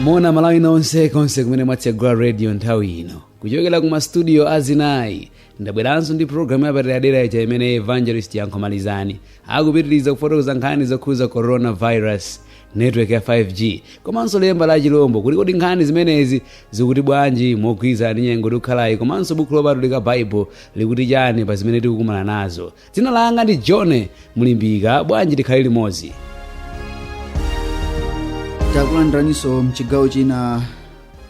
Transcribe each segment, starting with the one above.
mona malawi nonse konse kumene mwatsegula radio nthawi ino kuchokera ku mastudio azinayi ndabweranso ndi programu yapadera-dera ija imene evangelist yankhomalizani akupitiriza kufotokoza nkhani zokhuza coronavirus network ya 5g komanso lemba la chilombo kuti kodi nkhani zimenezi zikuti bwanji mogwirizana ndi nyengo tikukhalayi komanso buku lopatulika bible likuti chani pa zimene tikukumana nazo Dzina langa ndi John Mlimbika, bwanji tikhale limodzi? takulandiraniso mchigawo china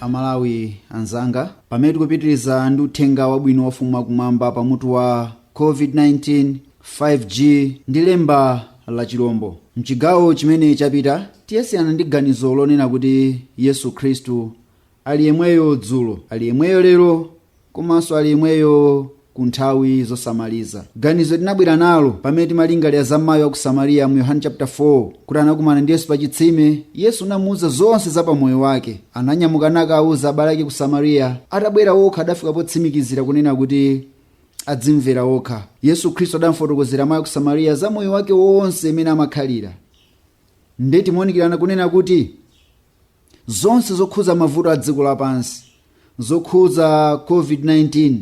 amalawi anzanga pamene tikupitiriza ndi uthenga wabwino wa ufumu wakumwamba pa mutu wa covid-19 5g ndi lemba la chilombo mchigawo chimene chapita tidasiyana ndi ganizo lonena kuti yesu khristu Ali yemweyo dzulo, ali yemweyo lero, komanso ali yemweyo ku nthawi zosamaliza. Ganizo tinabwera nalo pamene timalingalira za mayi wa ku Samariya mu Yohane chapter 4 kuti anakumana ndi Yesu pa chitsime. Yesu anamuwuza zonse za pamoyo wake. Ananyamuka nakawawuza abale ake ku Samariya. Atabwera okha adafika potsimikizira kunena kuti adzimvera okha. Yesu Khristu adamfotokozera mayi wa ku Samariya za moyo wake wonse mmene amakhalira. Nde timaunikirana kunena kuti zonse zokhuza mavuto a dziko lapansi zokhuza covid-19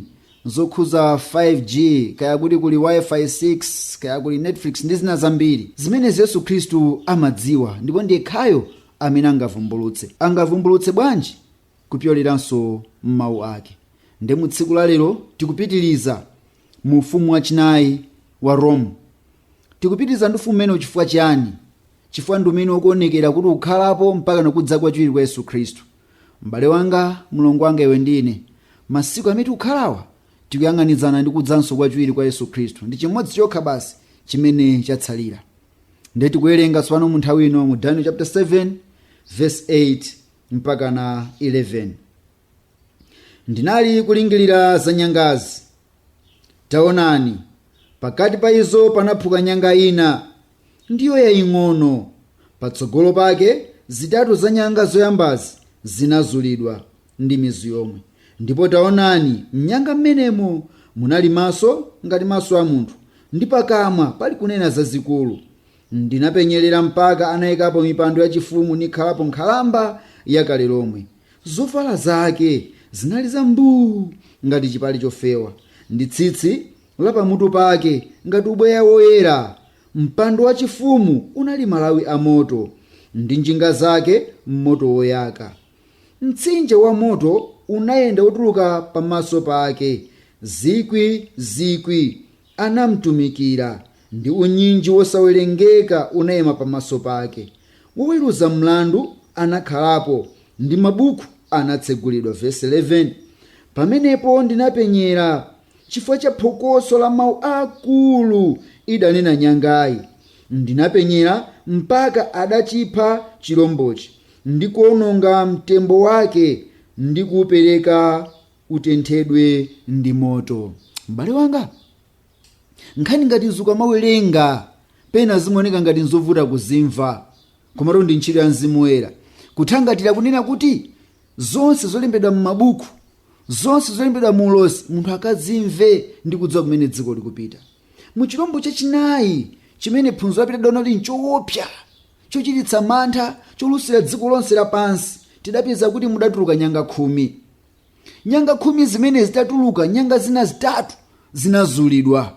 zokhuza 5g kaya kuti kuli wifi 6 kaya kuli netflix ndi zina zambiri zimenezi, yesu khristu amadziwa ndipo ndi yekhayo amene angavumbulutse angavumbulutse bwanji kupyoleranso m'mawu ake nde mu tsiku la lero tikupitiriza mu ufumu wachinayi wa rome Tikupitiriza ndi Ufumu umenewu chifukwa chiyani? Chifukwa ndi umene ukuonekera kuti ukhalapo mpakana kudza kwachiwiri kwa Yesu Khristu. M'bale wanga, mlongo wanga iwe ndi ine, masiku amene tikukhalawa tikuyang'anizana ndi kudzanso kwachiwiri kwa Yesu Khristu. Ndi chimodzi chokha basi chimene chatsalira. Ndiye tikuwerenga tsopano mu nthawi ino mu Daniel chapter 7 verse 8 mpakana 11. Ndinali kulingirira za nyangazi. Taonani, pakati pa izo panaphuka nyanga ina, ndiyo yaing'ono. Patsogolo pake zitatu za nyanga zoyambazi zinazulidwa ndi mizu yomwe. Ndipo taonani, m'nyanga m'menemo munali maso ngati maso a munthu, ndi pakamwa pali kunena zazikulu. Ndinapenyerera mpaka anaikapo mipando yachifumu nikhalapo nkhalamba yakale lomwe. Zovala zake zinali za mbuu ngati chipale chofewa, ndi tsitsi la pamutu pake ngati ubweya woyera. Mpando wachifumu unali malawi a moto, ndi njinga zake moto woyaka. Mtsinje wa moto unayenda wotuluka pamaso pake zikwi zikwi anamtumikira, ndi unyinji wosawerengeka unaima pamaso pake. Woweruza mlandu anakhalapo, ndi mabukhu anatsegulidwa, vesi 11, Pamenepo ndinapenyera, chifukwa cha phokoso la mawu akulu idanena nyangayi, ndinapenyera mpaka adachipha chirombochi, ndi kuononga mtembo wake, ndi kuupereka utenthedwe ndi moto m'bale wanga nkhani ngati izi ukamawerenga pena zimaoneka ngati nzovuta kuzimva komatu ndi ntchito ya mzimu woyera kuthangatira kunena kuti zonse zolembedwa m'mabuku zonse zolembedwa mu ulosi munthu akazimve ndi kudziwa kumene dziko likupita mu chilombo chachinayi chimene phunziro lapita tidaona kuti nchoopsa chochititsa mantha cholusira dziko lonse lapansi tidapeza kuti mudatuluka nyanga khumi nyanga khumi zimene zitatuluka nyanga zina zitatu zinazulidwa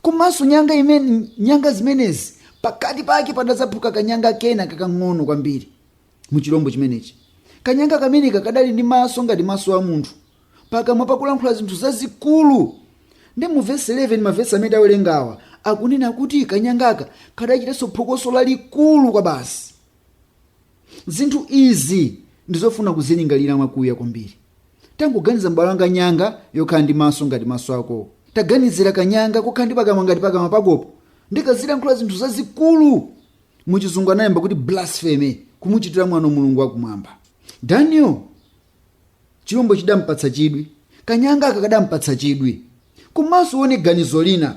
komanso nyanga imene nyanga zimenezi pakati pake padadzaphuka kanyanga kena kakang'ono kwambiri mu chilombo chimenechi kanyanga kameneka kadali ndi maso ngati maso a munthu pakamwa pakulankhula zinthu zazikulu ndi mu vesi 11 mavesi amene tawerengawa akunena kuti kanyangaka kadachitanso phokoso lalikulu kwa basi Zinthu izi ndi zofuna kuzilingalira mwakuya kwambiri. Tangoganiza m'bale wanga nyanga yokhala ndi maso ngati maso akowo. Taganizira kanyanga kokhala ndi pakamwa ngati pakamwa pakopo ndi kazilankhula zinthu zazikulu. Mu chizungu anakamba kuti blasphemy, kumuchitira mwano Mulungu wakumwamba. Daniel chilombo chidampatsa chidwi kanyangaka kadampatsa chidwi komanso uone ganizo lina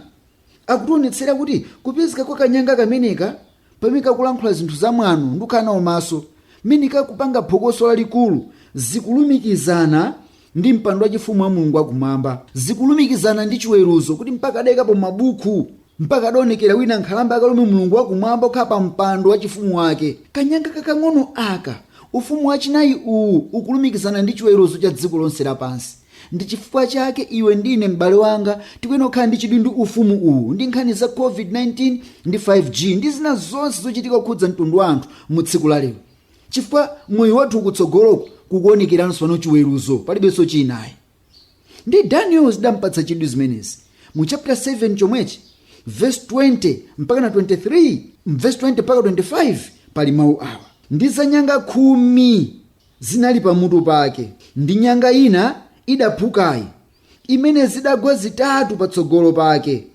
akutionetsera kuti kupezeka kwa kanyanga kameneka pamene kakulankhula zinthu za mwano ndi kukhala nawo maso mmene kakupanga phokoso lalikulu zikulumikizana ndi mpando wachifumu wa mulungu wakumwamba zikulumikizana ndi chiweruzo kuti mpaka adayikapo mabuku mpaka adaonekera wina nkhalamba yakale lomwe mulungu wakumwamba okhala pa mpando wachifumu wake kanyanga kakang'ono aka ufumu wachinayi uwu ukulumikizana ndi chiweruzo cha dziko lonse lapansi ndi chifukwa chake iwe ndi ine m'bale wanga tikuyenera kukhala ndi chidwi ndi ufumu uwu ndi nkhani za covid-19 ndi 5g ndi zina zonse zochitika kukhudza mtundu wa anthu mu tsiku la lero chifukwa moyo wathu kutsogoloku kukuonekeranso pano chiweruzo palibenso china ayi ndi daniel zidampatsa chidwi zimenezi mu chapter 7 chomwechi verse 20 mpaka na 23 verse 20 mpaka 25 pali mawu awa ndi za nyanga khumi zinali pamutu pake ndi nyanga ina idaphukayi imene zidagwa zitatu patsogolo pake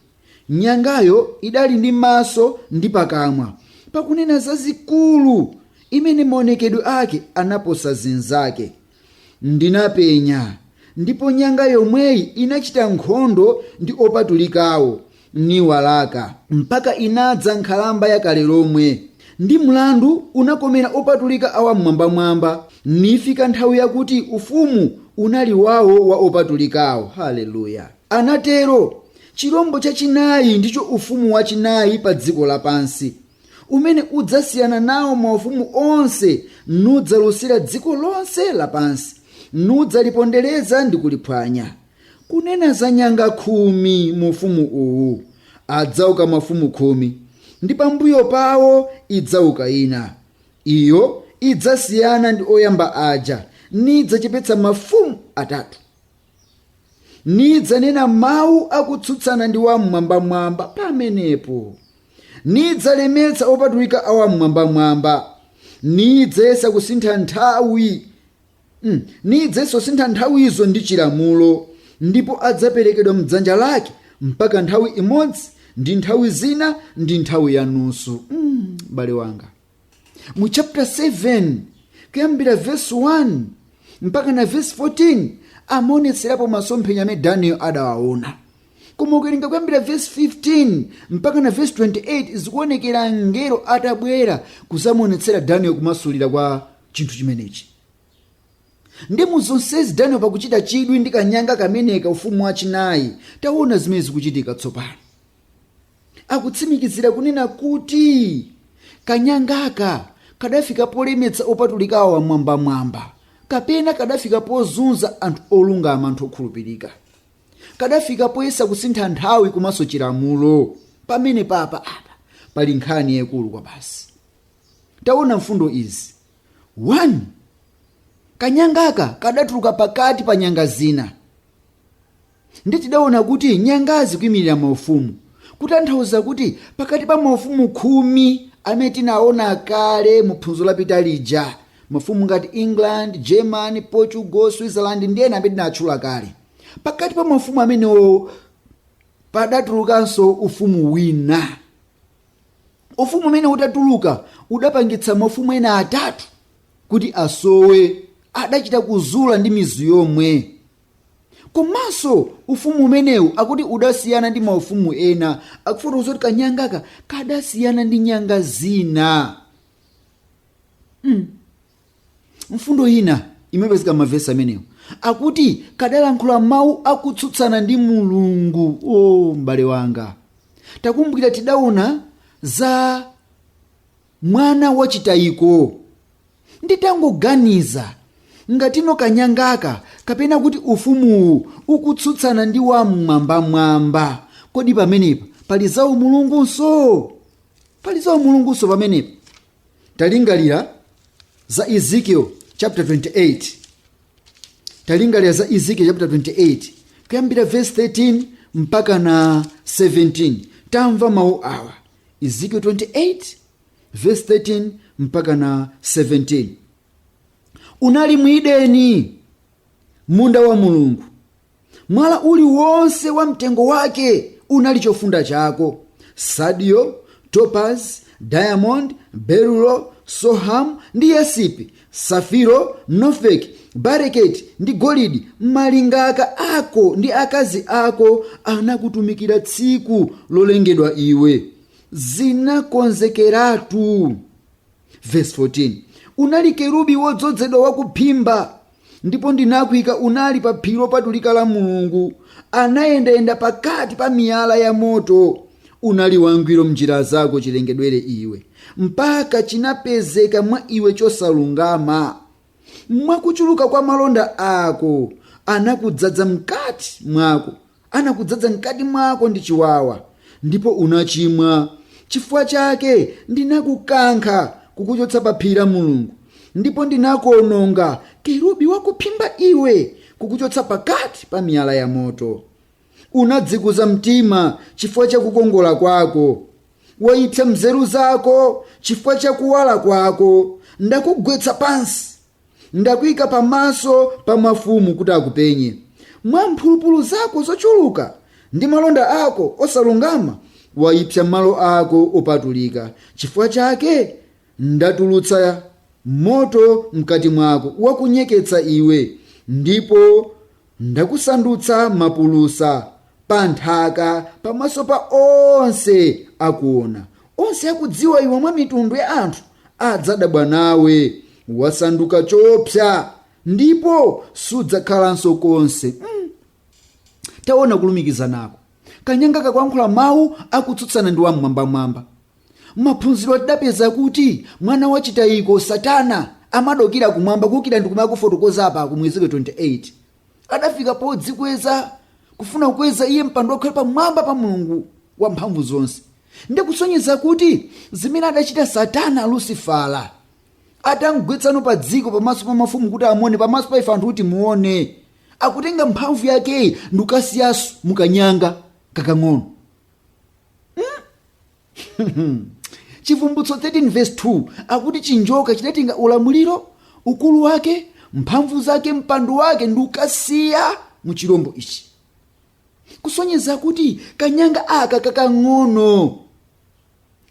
nyangayo idali ndi maso ndi pakamwa pakunena zazikulu imene maonekedwe ake anaposa zinzake Ndinapenya, ndipo nyanga yomweyi inachita nkhondo ndi opatulikawo, niwalaka, mpaka inadza nkhalamba ya kale lomwe, ndi mlandu unakomera opatulika a Wam'mwambamwamba, nifika nthawi yakuti ufumu unali wawo wa opatulikawo. Haleluya! Anatero, Chilombo chachinayi ndicho ufumu wachinayi pa dziko lapansi. umene udzasiyana nawo maufumu onse, nudzalusira dziko lonse lapansi, nudzalipondereza ndi kuliphwanya. Kunena za nyanga khumi mu ufumu uwu, adzauka mafumu khumi, ndi pambuyo pawo idzauka ina. Iyo idzasiyana ndi oyamba aja, nidzachepetsa mafumu atatu. nidzanena mawu akutsutsana ndi wam'mwambamwamba pamenepo nidzalemetsa opatulika a wam'mwambamwamba nidzayesa kusintha nthawi mm, nidzayesa kusintha nthawizo ndi chilamulo ndipo adzaperekedwa mdzanja lake mpaka nthawi imodzi ndi nthawi zina ndi nthawi yanusu m'bale wanga mu chapter 7 kuyambira verse 1 mpaka na verse 14 amaonetserapo masomphenya amene daniel adawaona koma ukawerenga kuyambira verse 15 mpaka na verse 28 zikuonekera mngelo atabwera kuzamuonetsera daniel kumasulira kwa chinthu chimenechi ndi mu zonsezi daniel pakuchita chidwi ndi kanyanga kameneka ufumu wachinayi taona zimene zikuchitika tsopano akutsimikizira kunena kuti kanyangaka kadafika polemetsa opatulikawo amwambamwamba kapena kadafika pozunza anthu olungama anthu okhulupirika kadafika poyesa kusintha nthawi komanso chilamulo pamene papa apa pali nkhani yayikulu kwabasi taona mfundo izi 1 kanyangaka kadatuluka pakati pa nyanga zina Ndiye tidaona kuti nyanga zikuimirira maufumu, kutanthauza kuti pakati pa maufumu khumi amene tinaona kale mu phunziro lapita lija, mafumu ngati England, German, Portugal, Switzerland ndi ena amene tinatchula kale, pakati pa maufumu amenewo padatulukanso ufumu wina. Ufumu umenewu utatuluka udapangitsa maufumu ena atatu kuti asowe, adachita kuzula ndi mizu yomwe. komanso ufumu umenewu akuti udasiyana ndi maufumu ena akufotokoza kuti kanyangaka kadasiyana ndi nyanga zina mm. mfundo ina imapezeka m'mavesi amenewo akuti kadalankhula mawu akutsutsana ndi mulungu o oh, m'bale wanga takumbukira tidaona za Mwana wachitayiko. Nditangoganiza, ngati kanyangaka kapena kuti ufumuwu ukutsutsana ndi Wam'mwambamwamba, kodi pamenepa pali zaumulungunso? Pali zaumulungunso pamenepa? Talingalira za Ezekiel chapter 28. Talingalira za Ezekiel chapter 28 kuyambira verse 13 mpaka na 17. Tamva mawu awa. Ezekiel 28 verse 13 mpaka na 17 unali m'Edeni munda wa mulungu mwala uliwonse wa mtengo wake unali chofunda chako sadio topaz diamond berulo soham ndi yasipi safiro nofek bareketi ndi golidi malingaka ako ndi akazi ako anakutumikira tsiku lolengedwa iwe zinakonzekeratu verse 14 unali kerubi wodzozedwa wakuphimba ndipo ndinakuika unali pa phiri lopatulika la mulungu anayendayenda pakati pa miyala ya moto unali wangwiro mnjira zako chilengedwere iwe mpaka chinapezeka mwa iwe chosalungama. Mwa kuchuluka kwa malonda ako anakudzadza mkati mwako, anakudzadza mkati mwako ndi chiwawa, ndipo unachimwa. Chifukwa chake ndinakukankha kukuchotsa pa phiri la Mulungu, ndipo ndinakuononga kerubi wakuphimba iwe, kukuchotsa pakati pa miyala ya moto. unadzikuza mtima chifukwa cha kukongola kwako waipsa nzeru zako chifukwa cha kuwala kwako ndakugwetsa pansi ndakuika pamaso pa mafumu kuti akupenye mwa mphulupulu zako zochuluka ndi malonda ako osalungama waipsa malo ako opatulika chifukwa chake Ndatulutsa moto mkati mwako wakunyeketsa iwe, ndipo ndakusandutsa mapulusa pa nthaka pamaso pa onse akuona. Onse akudziwa iwe mwa mitundu ya anthu adzadabwa nawe. Wasanduka choopsa ndipo sudzakhalanso konse. Mm. Taona kulumikizanako. Kanyanga kakulankhula mawu akutsutsana ndi Wam'mwambamwamba. M'maphunziro tidapeza kuti mwana wa chitayiko, Satana, amadukira kumwamba, kuukira ndi kumwamba akufotokoza apaku mu Ezekiel 28. Adafika podzikweza, kufuna kukweza iye mpando ukhale pamwamba pa Mulungu wamphamvu zonse. Ndi kusonyeza kuti zimene adachita Satana, Lusifala, atamgwetsano padziko pamaso pa mafumu kuti amuone, pamaso pa ife anthu kuti timuone, akutenga mphamvu yakeyi ndikukasiyaso mukanyanga kakang'ono Hmm? chivumbutso 13 verse 2 akuti chinjoka chidatenga ulamuliro ukulu wake mphamvu zake mpando wake ndikukasiya mu chilombo ichi kusonyeza kuti kanyanga aka kakang'ono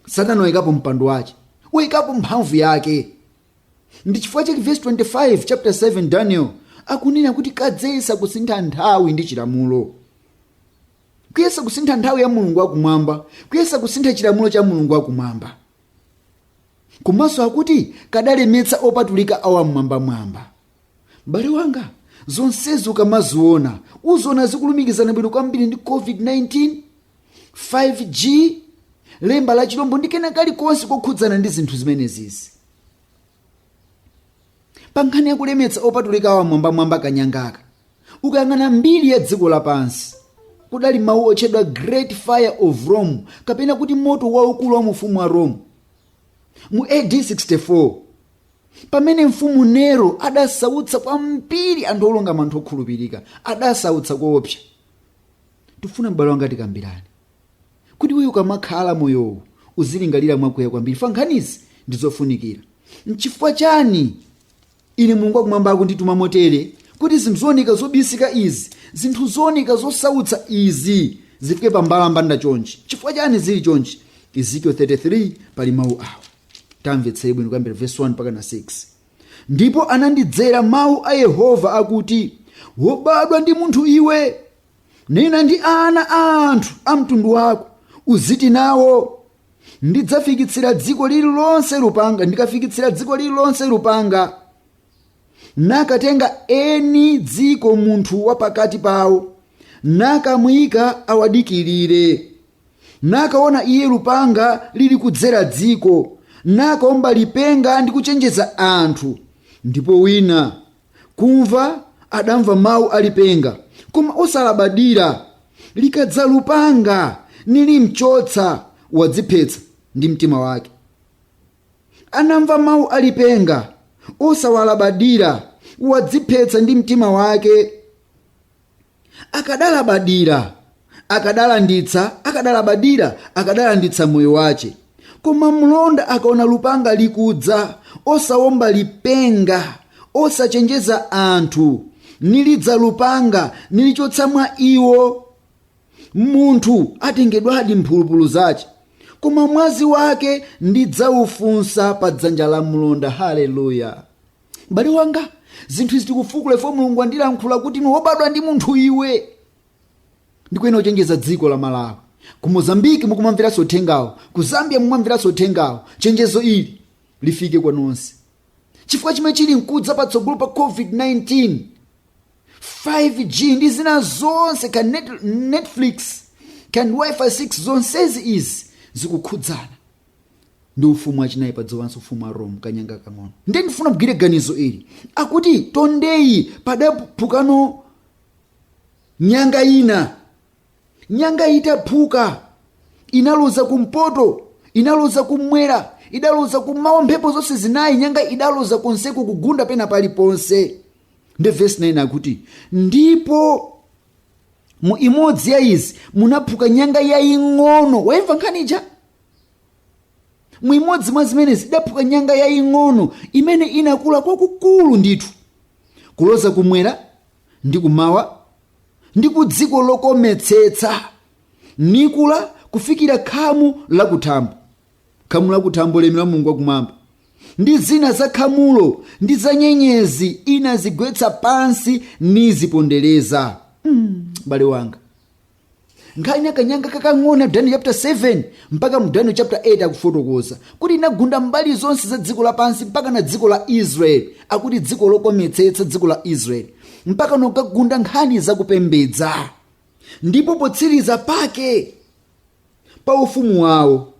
satana wayikapo mpando wake wayikapo mphamvu yake ndi chifukwa chake vesi 25 chapter 7 daniel akunena kuti kadzayesa kusintha nthawi ndi chilamulo kuyesa kusintha nthawi ya mulungu wakumwamba kuyesa kusintha chilamulo cha mulungu wakumwamba komanso akuti kadalemetsa opatulika a wammwambamwamba m'bale wanga zonsezi ukamaziona uziona zikulumikizana bwino kwambiri ndi covid-19 5g lemba la chilombo ndi kena kalikonse kokhudzana ndi zinthu zimenezizi pa nkhani yakulemetsa opatulika a wamwambamwamba kanyangaka ukayang'ana mbiri ya dziko lapansi kudali mawu otchedwa great fire of rome kapena kuti moto waukulu wa mu ufumu wa rome mu ad 64 Pamene mfumu Nero adasautsa kwambiri anthu olungama anthu okhulupirika, adasautsa koopsa. Tifuna m'bale wanga tikambirane. Kuti iweyo ukamakhala moyowu uzilingalira mwakuya kwambiri fa nkhanizi ndi zofunikira. Nchifukwa chani ine Mulungu wakumwamba akundituma motere kuti zinthu zooneka zobisika izi, zinthu zooneka zosautsa izi zifike pa mbalambanda chonchi? Chifukwa chani zili chonchi? Ezekiel 33 pali mawu awa. tamvetserani bwino kuyambira vesi 1 mpaka na 6 ndipo anandidzera mawu a yehova akuti wobadwa ndi munthu iwe nena ndi ana a anthu a mtundu wako uziti nawo ndidzafikitsira dziko lililonse lupanga ndikafikitsira dziko lililonse lupanga nakatenga eni dziko munthu wa pakati pawo nakamuyika awadikirire nakaona iye lupanga lili kudzera dziko nakaomba lipenga ndi kuchenjeza anthu ndipo wina kumva adamva mawu a lipenga koma osalabadira likadza lupanga nilimchotsa wadziphetsa ndi mtima wake anamva mawu a lipenga osawalabadira wadziphetsa ndi mtima wake akadalabadira akadalanditsa akadalabadira akadalanditsa moyo wace koma mlonda akaona lupanga likudza osawomba lipenga osachenjeza anthu nilidza lupanga nilichotsa mwa iwo munthu atengedwadi mphulupulu zace koma mwazi wake ndidzaufunsa pa dzanja la mlonda haleluya m'bale wanga zinthu izi tikufukula ife mulungu andilankhula kuti ni wobadwa ndi munthu iwe ndikuyenera kuchenjeza dziko la malawi ku mozambiki mukumamveranso uthengawo ku zambia mukumamveranso uthengawo chenjezo ili lifike kwa nonse chifukwa chimene chili mkudza patsogolo pa covid-19 5g ndi zina zonse ka netflix ka wifi 6 zonsezi izi zikukhudzana ndi ufumu wachinayi pa dziko lapansi ufumu wa rome kanyanga kang'ono ndiye ndifuna mgwire ganizo ili akuti tondeyi padaphukano nyanga ina nyanga itaphuka inaloza kumpoto inaloza kumwera idaloza kummawa mphepo zonse zinayi nyanga idaloza konseko kugunda pena paliponse ndiye vesi 9 akuti ndipo mu imodzi ya izi munaphuka nyanga yaying'ono waimva nkhani ija mu imodzi mwa zimenezi idaphuka nyanga yaying'ono imene inakula kwakukulu ndithu kuloza kumwera ndi kumawa ndi ku dziko lokometsetsa nikula kufikira khamu lakuthambo khamu lakuthambo ulemu wa mulungu wakumwamba ndi zina za khamulo ndi za nyenyezi inazigwetsa pansi nizipondereza m'bale wanga nkhani ya kanyanga kakang'ono ya daniel chapter 7 mpaka mu daniel chapter 8 akufotokoza kuti inagunda mbali zonse za dziko lapansi mpaka na dziko la israeli akuti dziko lokometsetsa dziko la israeli mpaka nokagunda nkhani zakupembedza ndipo potsiriza pake pa ufumu wawo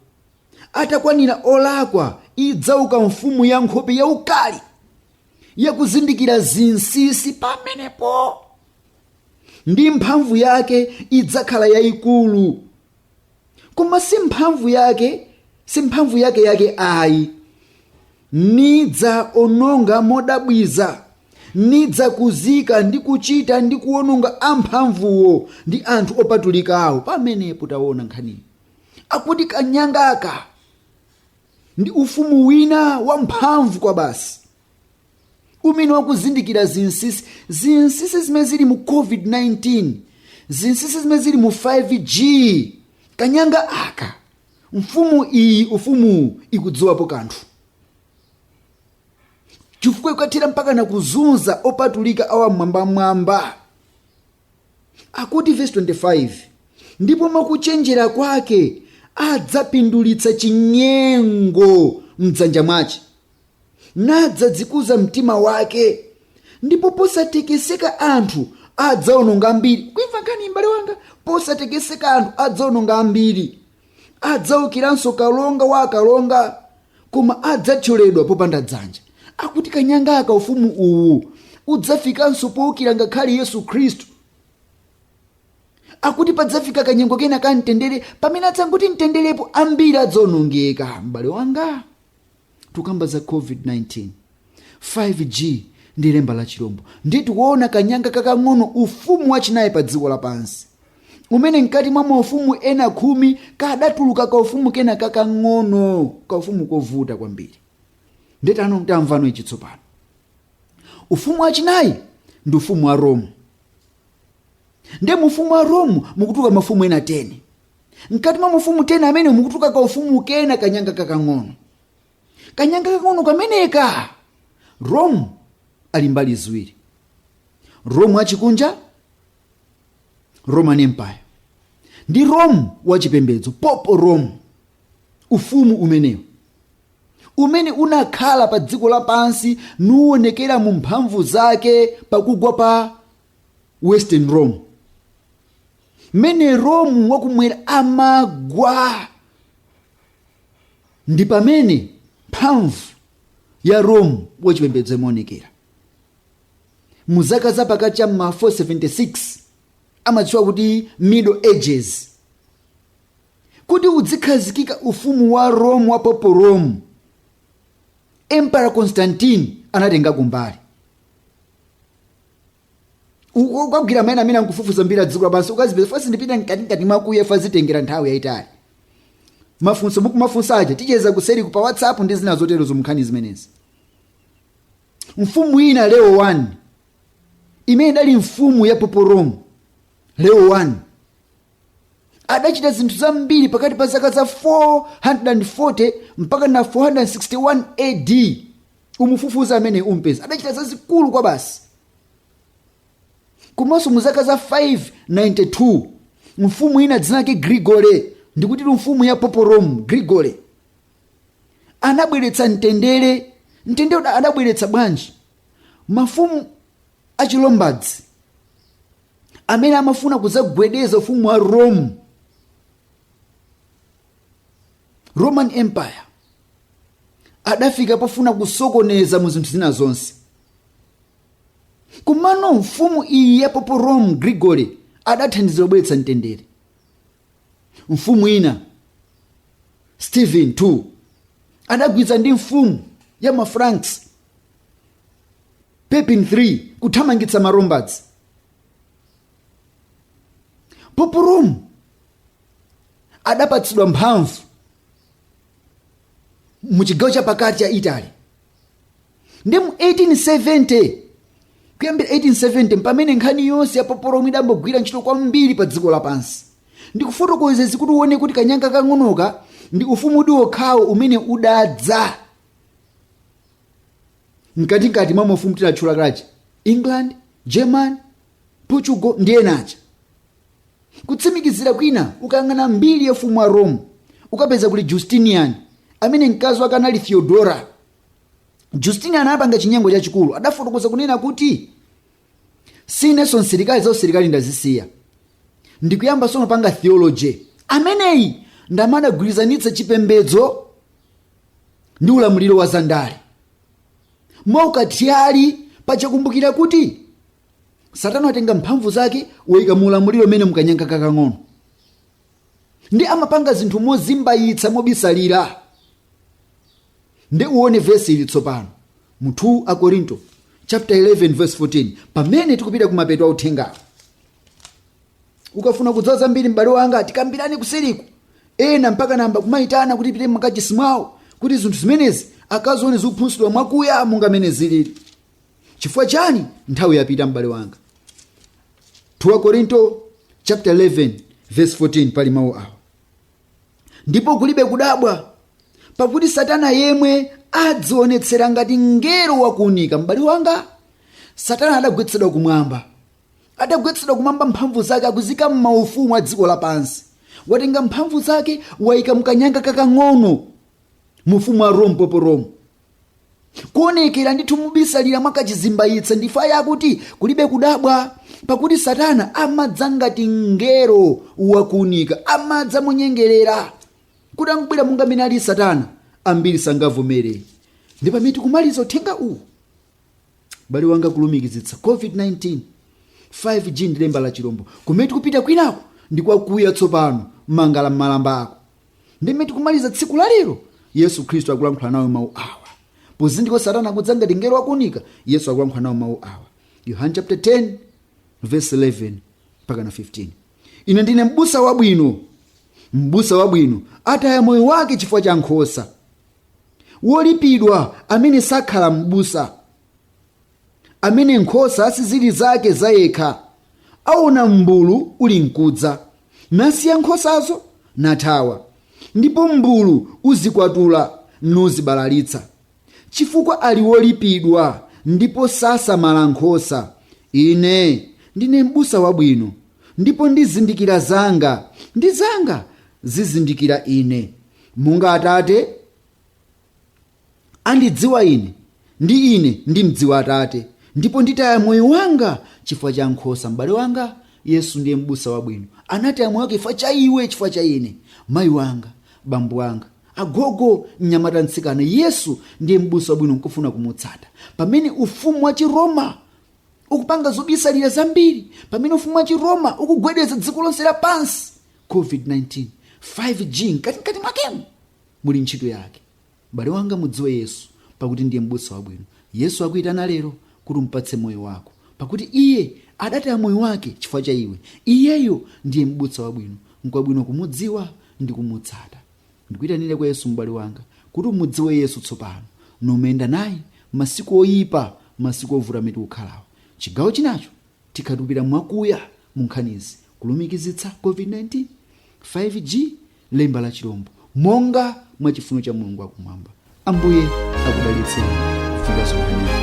atakwanira olakwa idzauka mfumu ya nkhope yaukali yakuzindikira zinsinsi pamenepo ndi mphamvu yake idzakhala yayikulu koma si mphamvu yake si mphamvu yake yake ayi nidzaononga modabwitsa nidzakuzika ndi kuchita ndi kuononga amphamvuwo ndi anthu opatulikawo pamenepo taona nkhaniyi akuti kanyangaka ndi ufumu wina wamphamvu kwabasi umene wakuzindikira zinsinsi zinsinsi zimene zili mu covid-19 zinsinsi zimene zili mu 5g kanyanga aka mfumu iyi ufumuwu ikudziwapo kanthu chifukwa ikathera mpaka na kuzunza opatulika a wam'mwambamwamba akuti verse 25 ndipo mwakuchenjera kwake adzapindulitsa chinyengo mdzanja mwace nadzadzikuza mtima wake ndipo posatekeseka anthu adzaononga ambiri ukuimva nkhani m'bale wanga posatekeseka anthu adzaononga ambiri adzaukiranso kalonga wa akalonga koma adzathyoledwa popanda dzanja akuti kanyanga aka ufumu uwu udzafikanso poukira ngakhale yesu khristu akuti padzafika kanyengo kena ka mtendere pamene adzangoti mtenderepo ambiri adzaonongeka m'bale wanga Tukamba za COVID-19, 5G ndi lemba la chirombo, ndiye tikuona kanyanga kakang'ono, ufumu wachinayi pa dziko lapansi, umene mkati mwa maufumu ena khumi kadatuluka kaufumu kena kakang'ono, kaufumu kovuta kwambiri. Ndiye pano tamvano ichi tsopano, ufumu wachinayi ndi ufumu wa Rome. Ndiye mu ufumu wa Rome mukutuluka mafumu ena 10. mkati mwa mafumu 10 amenewa mukutuluka ka ufumu kena kanyanga kakang'ono kanyanga kakang'ono kameneka rome ali mbali ziwiri rome wachikunja roman empire ndi rome wachipembedzo Papal Rome ufumu umenewu umene unakhala pa dziko lapansi nuwonekera mu mphamvu zake pakugwa pa western rome mmene rome wakumwera amagwa ndi pamene mphamvu ya rome wachipembedzo imaonekera mu zaka za pakati cha ma 476 amatchula kuti middle ages kuti udzikhazikika ufumu wa rome wa Papal Rome emperor constantine anatenga kumbali Uko ukagwira maina amenewa nkufufuza mbiri ya dziko lapansi ukazipeza fasi ndipita mkatikati mwakuya fazitengera nthawi yayitali mafunso mukumafunsa aja ticheza kuseri pa whatsapp ndi zina zoterozo munkhani zimenezi mfumu ina leo 1 imene idali mfumu ya Papal Rome leo 1 adachita zinthu zambiri pakati pa zaka za 440 mpaka na 461 ad umufufuze ameneyu umpeza adachita zazikulu kwabasi komanso mu zaka za 592 mfumu ina dzina lake Gregory ndikuti mfumu ya Papal Rome Gregory anabweretsa mtendere mtendere uda- adabweretsa bwanji mafumu achi Lombards amene amafuna kudzagwedeza ufumu wa rome roman empire adafika pofuna kusokoneza mu zinthu zina zonse komano mfumu iyi ya pope rome gregory adathandizira kubweretsa mtendere mfumu ina stephen 2 adagwirizana ndi mfumu ya mafranks pepin 3 kuthamangitsa malombards pope rome adapatsidwa mphamvu mu chigawo chapakati cha italy ndi mu 1870 kuyambira 1870 mpamene nkhani yonse ya pope rome idayamba kugwira ntchito kwambiri pa dziko lapansi ndikufotokoza izi kuti uone kuti kanyanga kang'onoka ndi ufumu uli wokhawo umene udadza mkatikati mwa mafumu tidatchula kale aja england german portugal ndi ena aja Kutsimikizira kwina, ukayang'ana mbiri ya ufumu wa Rome, ukapeza kuli Justinian, amene mkazi wake anali Theodora. Justinian anapanga chinyengo chachikulu, adafotokoza kunena kuti sinenso msilikali za usilikali ndazisiya ndikuyamba tsono kupanga theology ameneyi ndi amene adagwirizanitsa chipembedzo ndi ulamuliro wa zandale mwaukathyali paja kumbukira kuti satana atenga mphamvu zake wayika mu ulamuliro umene mukanyanga kakang'ono ndi amapanga zinthu mozimbayitsa mobisalira ndi uone vesi ili tsopano mu 2 akorinto chapter 11 verse 14 pamene tikupita ku mapeto a uthengawo ukafuna kudziwa zambiri m'bale wanga tikambirane kuseriku ena mpaka anayamba kumayitana kuti tipite m'makachisi mwawo kuti zinthu zimenezi akazione zikuphunzitsidwa mwakuya monga mene zilili chifukwa chani nthawi yapita m'bale wanga 2 korinto chapter 11 verse 14 pali mawu awa ndipo kulibe kudabwa pakuti satana yemwe adzionetsera ngati mngelo wakuunika m'bale wanga satana adagwetsedwa kumwamba adagwetsedwa kumwamba mphamvu zake akuziika m'maufumu a dziko lapansi watenga mphamvu zake wayika mkanyanga kakang'ono mu ufumu wa rome pope rome kuonekera ndithu mobisalira mwakachizimbayitsa ndife ayi akuti kulibe kudabwa pakuti satana amadza ngati mngelo wakuunika amadza monyengerera kuti angobwera monga amene ali satana ambiri sangavomere ndi pamene tikumaliza uthenga uwu bale wanga kulumikizitsa covid-19 5g ndi lemba la chilombo kumene tikupita kwinaku ndi kwakuya tsopano mangala m'malamba ako ndi mmene tikumaliza tsiku la lero yesu khristu akulankhula nawo mawu awa pozindikira kuti satana akudza ngati mngelo wakuunika yesu akulankhula nawo mawu awa yohane chapter 10 verse 11 mpaka na 15 ine ndine m'busa wabwino m'busa wabwino ataya moyo wake chifukwa cha nkhosa wolipidwa amene sakhala m'busa amene nkhosa sizili zake zayekha aona mmbulu uli nkudza nasiya nkhosazo nathawa ndipo mmbulu uzikwatula nuzibalalitsa chifukwa ali wolipidwa ndipo sasamala nkhosa ine ndine m'busa wabwino ndipo ndizindikira zanga ndi zanga zizindikira ine Monga Atate andidziwa Ine, ndi ine ndimdziwa Atate, ndipo nditaya moyo wanga chifukwa cha nkhosa. M'bale wanga, Yesu ndiye m'busa wabwino. Anataya moyo wake chifukwa cha iwe, chifukwa cha ine. Mayi wanga, bambo wanga, agogo, mnyamata, mtsikana, Yesu ndiye m'busa wabwino nkufuna kumutsata. Pamene ufumu wa Chiroma ukupanga zobisalira zambiri, pamene ufumu wa Chiroma ukugwedeza dziko lonse lapansi, COVID-19, 5G mkatimkati mwakemu muli ntchito yake. M'bale wanga mudziwe Yesu pakuti ndiye m'busa wabwino. Yesu akuyitana lero kuti umpatse moyo wako pakuti iye adataya moyo wake chifukwa cha iwe. Iyeyo ndiye m'busa wabwino, nkwabwino kumudziwa ndi kumutsata. Ndikuyitanire kwa Yesu m'bale wanga kuti umudziwe Yesu tsopano numuyenda naye masiku oyipa masiku ovuta amene tikukhalawo. Chigawo chinacho Tikatulukira mwakuya mu nkhanizi, kulumikizitsa COVID-19, 5G, lemba la chirombo, monga mwa chifuno cha Mulungu wa Kumwamba. Ambuye akudalitseni kufika zonkhani yake.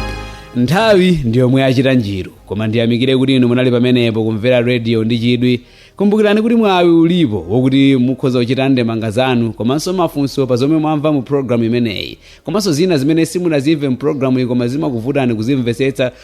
nthawi ndiyomwe achita njiru koma ndiyamikire kuti inu munali pamenepo kumvera rediyo ndi chidwi kumbukirani kuti mwawi ulipo wokuti mukhoza kuchita ndemanga zanu komanso mafunso pa zomwe mwamva mu programu imeneyi komanso zina zimene simunazimve mu programu iyi koma zimakuvutani kuzimvesetsa